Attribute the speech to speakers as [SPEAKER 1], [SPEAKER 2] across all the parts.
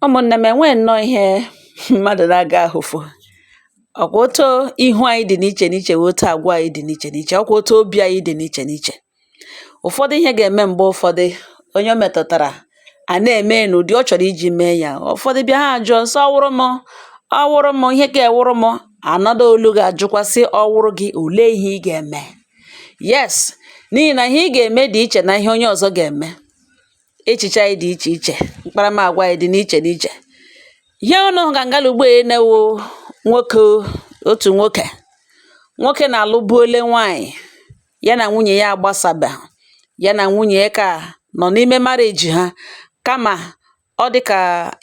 [SPEAKER 1] Ụmụ̀nnè m e nwee nnọọ ihe mmadụ̀ na-agà ahụ̀fụ, ọ̀ kwa otu ihu anyị dị̀ n'ichè n'ichè wụ̀ otu àgwà anyị dị̀ n'ichè n'ichè, ọ kwa otu obi anyị dị̀ n'ichè n'ichè. Ụfọdụ ihe gà-ème m̀gbe ụfọdụ onye o mètụ̀tàrà à na-ème ya n'ụ̀dị ọ chọ̀rọ̀ iji mee ya. Ụfọdụ bịa ha àjụọ sị ọ wụrụ mụ? Ọ wụrụ mụ? Ihe kee wụrụ mụ? Another olu gà-àjụkwa sị ọ wụrụ gị, òlee ihe ị gà-ème? Yes, n'ihì nà ihe ị gà-ème dị̀ ichè nà ihe onye ọ̀zọ gà-ème. echiche anyị dị iche iche mkparamagwa anyị dị n'iche n'iche ihe unu ga ngala ugbo na-awụ nwoke otu nwoke nwoke na-alụbuole nwaanyị ya na nwunye ya agbasaba ya na nwunye ya ka nọ n'ime marriage ha kama ọ dị ka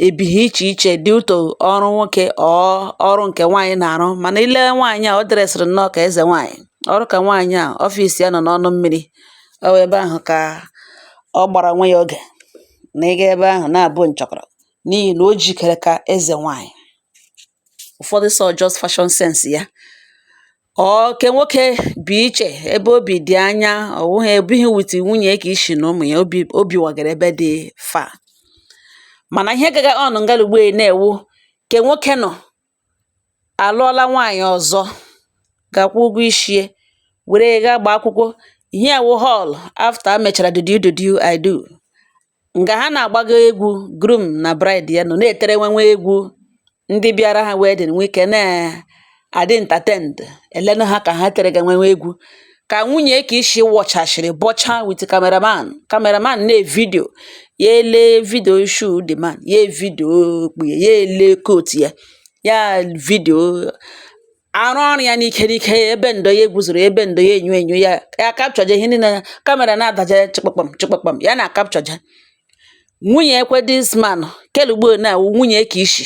[SPEAKER 1] ebighị iche iche due to ọrụ nwoke or ọrụ nke nwaanyị na-arụ mana i lee nwaanyị a ọ dressịrị nnọọ ka eze nwaanyị ọrụ ka nwaanyị a office ya nọ n'ọnụ mmiri ọ wụ ebe ahụ ka ọ gbara onwe ya oge na ịga ebe ahụ na-abụ nchọkọrọ n'ihi na o jikere ka eze nwaanyị. Ụfọdụ sị ọ just fashion sense ya. Ọ nke nwoke bi iche ebe o bi dị anya ọ wụghị o bighị with nwunye ya ke ishi na ụmụ ya o bi o biwagara ebe dị far. Mana ihe gaga on nga ugbu a na-awụ ke nwoke nọ àlụọla nwaànyị̀ ọ̀zọ gaa kwụọ ụgwọ ishi ye wère yā gaa gbaa akwụkwọ ihe à wụ hall after a mèchàrà do you do you I do ǹgà ha na-àgbaga egwū groom nà bride ya nọ̀ na-ètere nwa nwa egwū ndị bịara hā wedding nwee ikē na-àdị entertained è lenu hā kà ha tere gā nwa nwa egwū ka nwunye ke ishi wọchachiri bọcha with cameraman cameraman na-evidio ya ele video shoe the man ya evidio okpu ya ya ele coat ya ya video arụọ ọrụ ya n'ike n'ike ebenduo ya egwuzoro ebenduo ya enyo enyo ya ya kapchọje ihe niile ya camera na-adaje chịkpakpam chịkpakpam ya na-akapchọje nwunyekwa this man kelugbo na nwunye ke ishi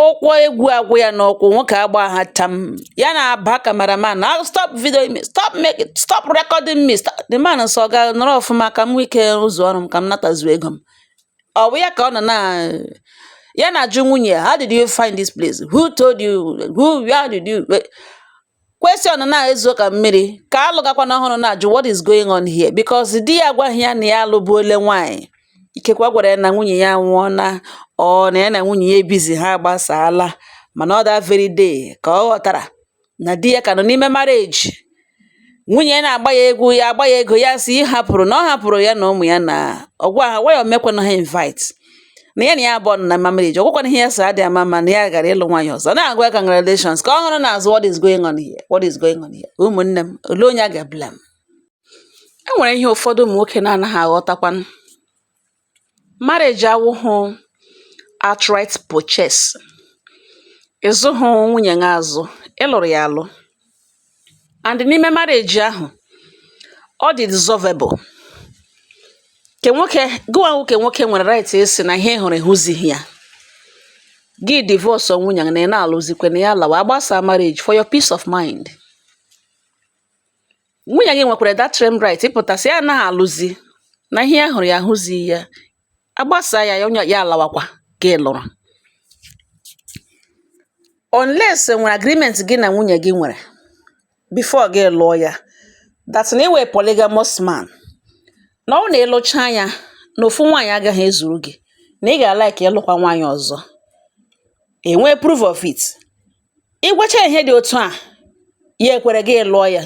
[SPEAKER 1] ụkwụ egwu agwụ ya n'ụkwụ nwoke agba ha tam ya na-aba cameraman na ah, stop video me stop make stop recording me stop the man sị ọga nọrọ ọfụma ka m nwee ike rụzuo ọrụ m ka m natazu ego m ọ bụ ya ka ọ nọ na ya na-ajụ nwunye ya how did you find this place who told you who where did you Question na-ezo ka mmiri ke a lụgakwa n'ọhụrụ na-ajụ what is going on here because di ya agwaghị ya na ya alụbuole nwaanyị ikekwe ọ gwara ya na nwunye ya nwụọna or na ya na nwunye ya ebizi ha agbasaala mana ọ that very day ka ọ ghọtara na di ya ka nọ n'ime marriage nwunye ya na-agba ya egwu ya agba ya ego ya sị ị hapụrụ na ọ hapụrụ ya na ụmụ ya na ọ gwa ha waya o mekwana ha invite na ya na ya abụọ nọ na marriage ọgwụkwana ihe ya so adị ama ama na ya gara ịlụ nwaanyị ọzọ na-agwa ya congratulations ka ọ hụrụ n'azụ what is going on here what is going on here ụmụnne m olee onye a ga-eblame e nwere ihe ụfọdụ ụmụ nwoke na-anaghị aghọtakwanụ marriage awụhụ outright purchase ị zụhụ nwunye gị azụ ị lụrụ ya alụ and n'ime marriage ahụ ọ dị dissolvable ke nwoke gụwa nwoke nwoke nwere right ịsị na ihe ị hụrụ ị hụzighị ya gị divorce nwunye na ị na-alụzikwe na ya lawa agbasaa marriage for your peace of mind nwunye gị nwekwara that same right ịpụta sị ya anaghị alụzi na ihe ya hụrụ ya ahụzighị ya agbasaa ya ya onwe ya alawakwa gaa lụrụ unless e nwere agreement gị na nwunye gị nwere before gị lụọ ya that na ị wụ a polygamous man na ọ wụ na ị lụcha ya na ofu nwaanyị agaghị ezuru gị na ị ga-alike ịlụkwa nwaanyị ọzọ e nwee proof of it Ị gwacha ya ihe dị otu a, ya ekwere gị lụọ ya.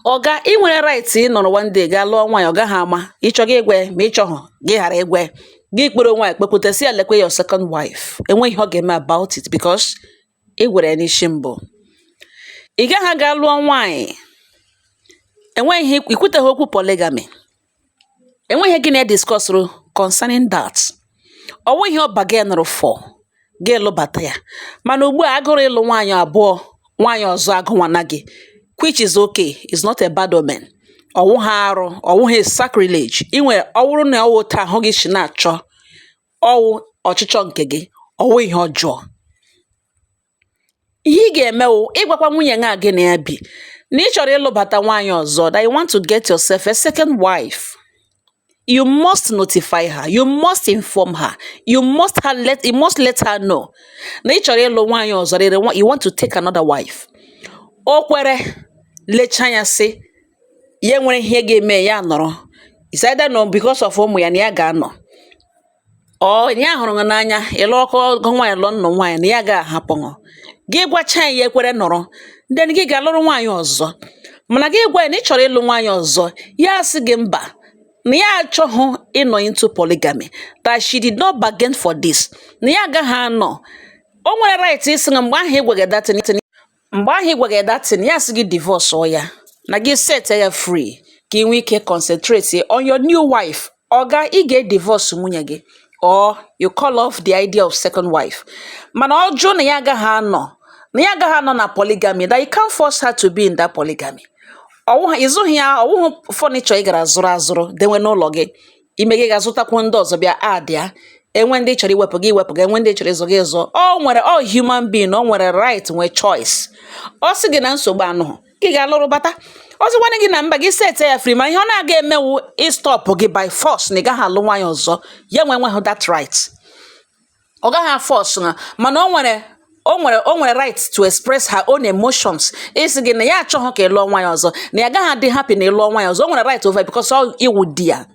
[SPEAKER 1] Oga, i nwere right ịnọrọ one day gaa lụọ nwaanyị, ọ gaghị ama. Ị chọọ gị gwa ya, ma ị chọghị, gị ghara ịgwa ya. Gị kpọrọ nwaanyị kpepụta, sị ya lekwe your second wife. Enweghị ihe ọ ga-eme about it because ị gwara ya n'isi mbụ. Ị gaghị aga lụọ nwaanyị, enweghị ihe, i kwuteghị okwu polygamy. enweghị gị na ya diskọsụrụ concerning that ọwụghị ihe ọ bargainụrụ for gị lụbata ya mana ugbu a agụrụ ịlụ nwaanyị abụọ nwaanyị ọzọ agụnwana gị which is okay is not a bad omen ọwụhụ arụ ọwụhụ sacrilege inwe ọwụrụ na ọwụ otu ahụ gị si na-achọ ọwụ ọchịchọ nke gị ọwụ ihe ọjọọ ihe ị ga-eme wụ ịgwakwa nwunye gị a gị na ya bi na ị chọrọ ịlụbata nwaanyị ọzọ that you want to get yourself a second wife you must notify her you must inform her you must her let you must let her know na ị chọrọ ịlụ nwaanyị ọzọ that you want to take another wife o kwere lecha anya sị ya e nwere ihe ga-eme ya nọrọ is either na because of ụmụ ya na ya ga-anọ or na ya hụrụ gị n'anya ị lụọ ọgụ nwaanyị lụọ nnụ nwaanyị na ya gaghị ahapụ gị gị gwacha ya ekwere nọrọ then gị gaa lụrụ nwaanyị ọzọ mana gị gwa ya na ị chọrọ ịlụ nwaanyị ọzọ ya asị gị mba na ya achọghị ịnọ into polygamy that she did not bargain for this na ya agaghị anọ o nwere right ịsị na mgbe ahụ ị gwaga ya that thing mgbe ahụ ị gwaga ya that thing ya sị gị divọsụọ ya na gị set ya free ka ị nwee ike concentrate on your new wife oga ị ga-edivọs nwunye gị or you call off the idea of second wife mana ọ jụ na ya agaghị anọ na ya agaghị anọ na polygamy that you can't force her to be in that polygamy ọwụghị ị zụghị ya ọwụghị furniture ị gara zụrụ azụrụ dewe n'ụlọ gị ime gị gaa zụtakwuo ndị ọzọ bịa add ya enwe ndị chọrọ iwepụ gị iwepụ gị enwe ndị chọrọ ịzụ gị ịzụ o nwere ọ human being o nwere right nwee choice ọ sị gị na nsogbu anọghị gị gaa lụrụ bata ọ sịkwanụ gị na mba gị set ya free ma ihe ọ na-aga eme wụ ịstọpụ gị by force na ị gaghị alụ nwaanyị ọzọ ya nwe nweghị that right ọ gaghị aforce na mana o nwere o nwere o nwere right to express her own emotions ịsị gị na ya achọghị ka ị lụọ nwaanyị ọzọ na ya gaghị adị happy na ị lụọ nwaanyị ọzọ o nwere right over because ọ ị wụ di ya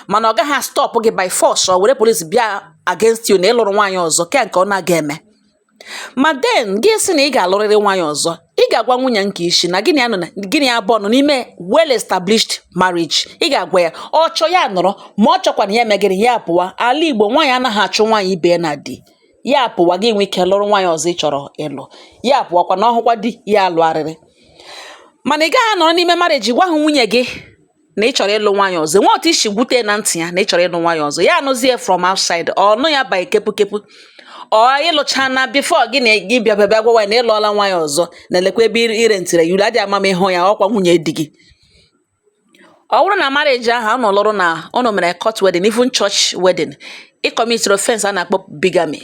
[SPEAKER 1] mana ọ gaghị stop gị by force ọ were police bịa against you na ị lụrụ nwaanyị ọzọ ke nke ọ na-aga eme ma then gị sị na ị ga-alụrịrị nwaanyị ọzọ ị ga-agwa nwunye nke isi na gị na ya nọ na gị na ya abụọ nọ n'ime well established marriage ị ga-agwa ya ọ chọọ ya anọrọ ma ọ chọkwanụ ya mee gịrị ya pụwa ala igbo nwaanyị anaghị achụ nwaanyị ibe ya na di ya pụwa gị nwee ike lụrụ nwaanyị ọzọ ị chọrọ ịlụ ya pụwakwanụ ọ hụkwa di ya alụgharịrị mana ị gaghị anọrọ n'ime marriage agwaghị nwunye gị na ị chọrọ ịlụ nwaanyị ọzọ nwee otu i si gwute na ntị ya na ị chọrọ ịlụ nwaanyị ọzọ ya anụzie from outside ọ nụ ya by kepukepu ọ ị lụchaala before gị na gị bịa bịa gwawa ya na ị lụọla nwaanyị ọzọ na lekwa ebe i rentịrị ya ụlọ adị ama m ịhụ ya ọkwa nwunye di gị ọ bụrụ na marriage ahụ ụnụ lụrụ na ụnụ mere court wedding even church wedding ị kọmitiri offense a na-akpọ bigamy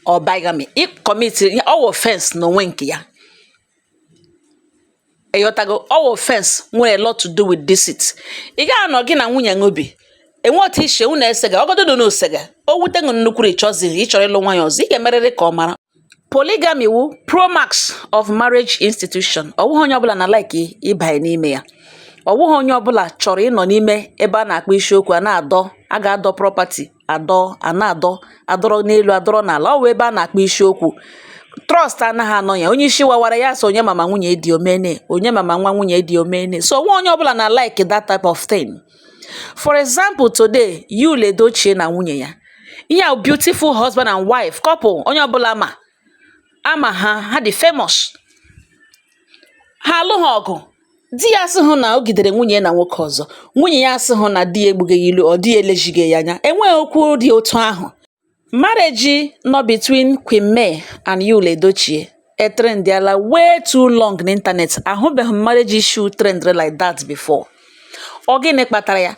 [SPEAKER 1] or bigamy ị kọmitiri ọ wụ offense n'onwe nke ya ị ghọtago ọ wụ offense nwere a lot to do with deceit ị gaghị anọ gị na nwunye gị bi e nwee otu ishi unu esega ọgọdụ dị n'osega o wute gị nnukwu ị chọzi ị chọrọ ịlụ nwaanyị ọzọ ị ga-emerịrị ka ọ mara polygamy wụ promax of marriage institution ọ wụghị onye ọbụla na like ịbanye n'ime ya ọ wụghị onye ọbụla chọrọ ịnọ n'ime ebe a na-akpa isiokwu a na-adọ a ga-adọ property adọ a na-adọ adọrọ n'elu adọrọ n'ala ọ wụ ebe a na-akpa isiokwu trust anaghị anọ ya onye isi wawara ya so onye mama nwunye di omene onye mama nwa nwunye di omene so ọ wụghị onye ọbụla na like that type of thing for example today yul edochie na nwunye ya ihe a beautiful husband and wife couple onye ọbụla ma a ma ha ha dị famous ha alụghị ọgụ di ya asịghị na o gidere nwunye na nwoke ọzọ nwunye ya asịghị na di ya egbuga ya ilu or di elezighị ya anya enweghị okwu dị otu ahụ marriage nọ between Queen May and Yul Edochie etrendịala way too long n'ịntanetị ahụbeghị m marriage issue trend like that before ọ gịnị kpatara ya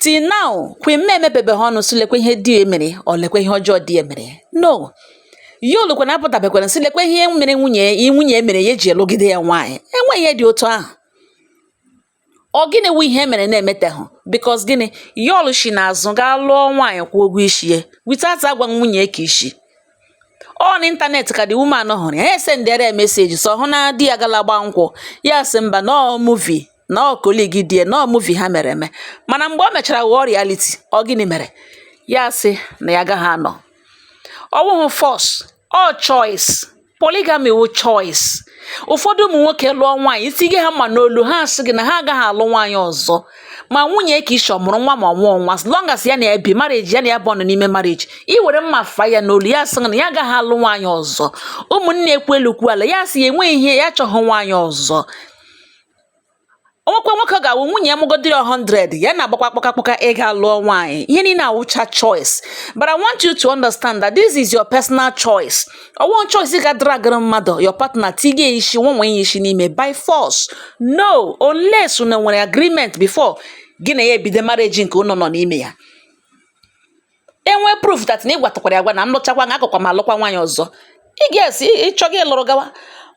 [SPEAKER 1] Till now, Queen May emepebeghị ọnụ sị lekwa ihe di ya mere or lekwa ihe ọjọọ di ya mere. No. Yul kwanụ apụtabekwaghị sị lekwa ihe mere nwunye ya nwunye ya mere ya eji alụgide ya nwaanyị. Enweghị ihe dị otu ahụ. Ọ gịnị wụ ihe mere na-emetehụ? Because gịnị? Yul shi n'azụ gaa lụọ nwaanyị kwụọ ụgwọ isi ya without agwa nwunye nke isi. Ọ n'ịntanetị ka the woman hụrụ ya. Ya esendịara ya message sọ hụ na di ya gala gbaa nkwụ. Ya sị mba na ọ movie na ọ colleague di ya na ọ movie ha mere eme mana mgbe o mechara ghọọ reality ọ gịnị mere ya sị na ya agaghị anọ ọ wụghị force ọ choice polygamy wụ choice ụfọdụ ụmụ nwoke lụọ nwaanyị ị tiga ha mma n'olu ha asị gị na ha agaghị alụ nwaanyị ọzọ ma nwunye ke isi ọ mụrụ nwa ma ọ mụghị nwa as long as ya na ya bi marriage ya na ya bu ọnụ n'ime marriage ị were mma fa ya n'olu ya asị na ya agaghị alụ nwaanyị ọzọ ụmụnne ekwuo elu kwuo ala ya asị ya enweghị ihe ya achọghị nwaanyị ọzọ o nwekwa nwoke ga-awụ nwunye ya mụgodiri 100 ya na-agbakwa kpọka kpọka ịga lụọ nwaanyị ihe niile awụcha choice but I want you to understand that this is your personal choice ọ wụghị choice ga dragara mmadụ your partner tiga isi nwanwe ya isi n'ime by force no unless unu nwere agreement before gị na ya ebido marriage nke unu nọ n'ime ya e nwee proof that na ị gwatụkwara ya agwa na m lụchakwa na agakwa m alụkwa nwaanyị ọzọ ị ga-esi ịchọ gị lụrụ gawa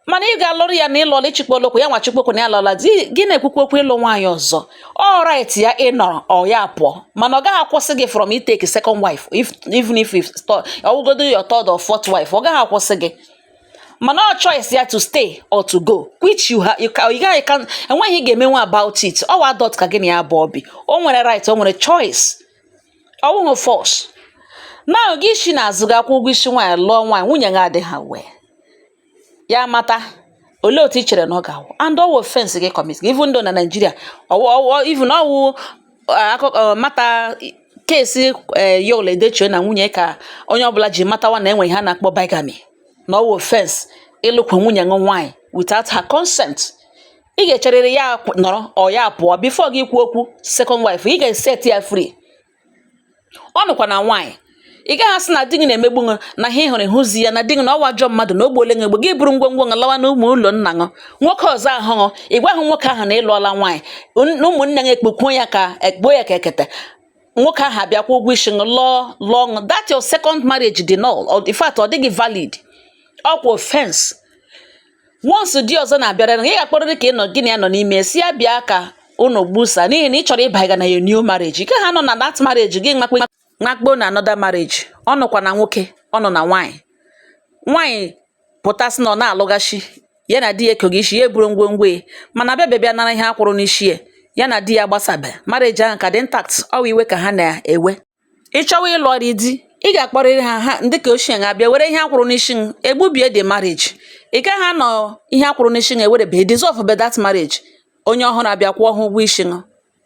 [SPEAKER 1] mana ị ga-alụrụ ya na ịlụọla ịchịkwa olokwu ya nwa chikwokwu na ya lụọla di gị na-ekwukwa okwu ịlụ nwaanyị ọzọ ọ right ya ịnọrọ or ya pụọ mana ọ gaghị akwụsị gị from itake second wife if even if if sto- ọ wụgodu your third or fourth wife ọ gaghị akwụsị gị mana ọ choice ya to stay or to go which you ha you ca- you gaghị ka enweghị ihe ị ga-emenwu about it ọwa adult ka gị na ya bu obi o nwere right o nwere choice ọ wụghụ force na gị esi n'azụ ga kwụọ ụgwọ isi nwaanyị lụọ nwaanyị nwunye gị adịghị aware ya mata olee otu i chere na ọ ga-awụ and ọwụ offense gị commit even though na nigeria even ọwụ akụkọ matter case eh, yul edochie na nwunye ya ka onye ọbụla ji matawa na e nwe ihe a na-akpọ bigamy na ọwụ offense ịlụkwu nwunye gị nwaanyị without her consent ị ga-echerịrị ya nọrọ ọ ya pụọ before gị ekwuo okwu second wife ị ga-eset ya free ọ nọkwa na nwaanyị ị gaghị asị na di gị na-emegbu ṅụ na ihe hụrụ hụzi ya na di gị na ọwa ajọ mmadụ na o gbuole ṅụ egbu gị buru ngwongwo ṅụ lawa na ụmụ ụlọ nna ṅụ nwoke ọzọ ahụ ṅụ ị gwaghị nwoke ahụ na ịlụọla nwaanyị ụmụnne gị ekpokpuo ya ka ekpuo ya ka ekete nwoke ahụ abịa kwụọ ụgwọ isi ṅụ lụọ lụọ ṅụ that your second marriage dị null in fact ọ dịghị valid ọkwa offense once di ọzọ na-abịara ị ga-akpọrịrị ke ị nọ gị na ya nọ n'ime sị ya bịa ka unu gbusa n'ihi na ị chọrọ ịbanye na your new marriage ị gaghị anọ na that marriage gị makpe makpo na another marriage ọ nọkwa na nwoke ọ nọ na nwaanyị nwaanyị pụta sị na ọ na-alụghachi ya na di ya ekoghị isi ya eburu ngwongwo ya mana abịabe bịa nara ihe a kwụrụ n'isi ya ya na di ya agbasabe marriage ahụ ka dị intact ọwa iwe ka ha na-ewe ị chọwa ịlụrị di ị ga-akpọrịrị ha ha ndị ke ochie ha bịa were ihe a kwụrụ n'isi gị egbubie the marriage ị gaghị anọ ihe a kwụrụ n'isi gị ewerebe dissolve be that marriage onye ọhụrụ abịa kwụọ ha ụgwọ isi gị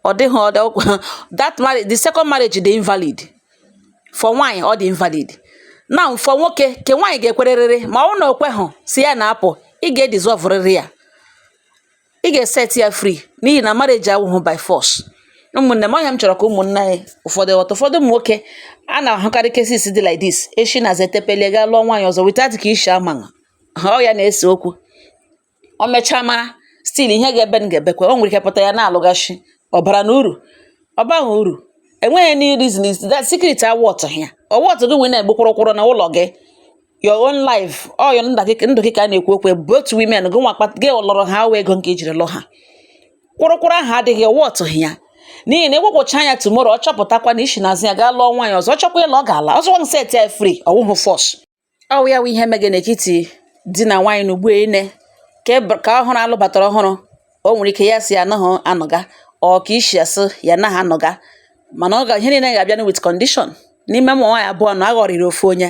[SPEAKER 1] ọ dịghị ọ dị ọkwa that marriage the second marriage dị invalid for nwaanyị ọ dị invalid now for nwoke ke nwaanyị ga-ekwerịrịrị ma ọ bụrụ na o kweghị sị ya na-apụ ị ga-edizọvụrịrị ya ị ga-eset ya free n'ihi na marriage awụghị by force ụmụnne m ọ ya m chọrọ ka ụmụnne anyị ụfọdụ ghọta ụfọdụ ụmụ nwoke a na-ahụkarị cases dị like this e si n'azụ tepelie gaa lụọ nwaanyị ọzọ without nke isi ama ha ọ ya na-ese okwu o mechaa mara still ihe ga-ebe m ga-ebekwa o nwere ike pụta ya na-alụghachi ọ bara uru ọ baghị uru enweghị any reason is that secret awụtụghị ya ọ wụtụghị nwere na-egbu kwụrụkwụrụ na ụlọ gị your own life ọ wụ ndụ gị ka a na-ekwu okwu both women gị nwa gị lụrụ ha ọ wụ ego nke i jiri lụọ ha kwụrụkwụrụ ahụ adịghị ọ wụtụghị ya n'ihi na ị gbagwọchaa anya tomorrow ọ chọpụtakwa na i si n'azụ ya gaa lụọ nwaanyị ọzọ ọ chọkwa ịla ọ ga-ala ọzọ nwa set ya free ọ wụhụ force ọ wụ ya wụ ihe mege n'etiti di na nwaanyị na ugbu ine nke ọhụrụ a lụbatara ọhụrụ o nwere ike ya sị ya anaghị anọga or nke isi asị ya anaghị anọga mana ọ ga ihe niile ga-abịa with condition n'ime ụmụ nwaanyị abụọ na a ghọrịrị ofu onye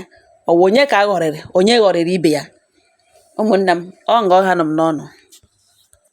[SPEAKER 1] ọ wụ onye ka a ghọrịrị onye ghọrịrị ibe ya ụmụnne m ọ nga ọ hanụ m n'ọnụ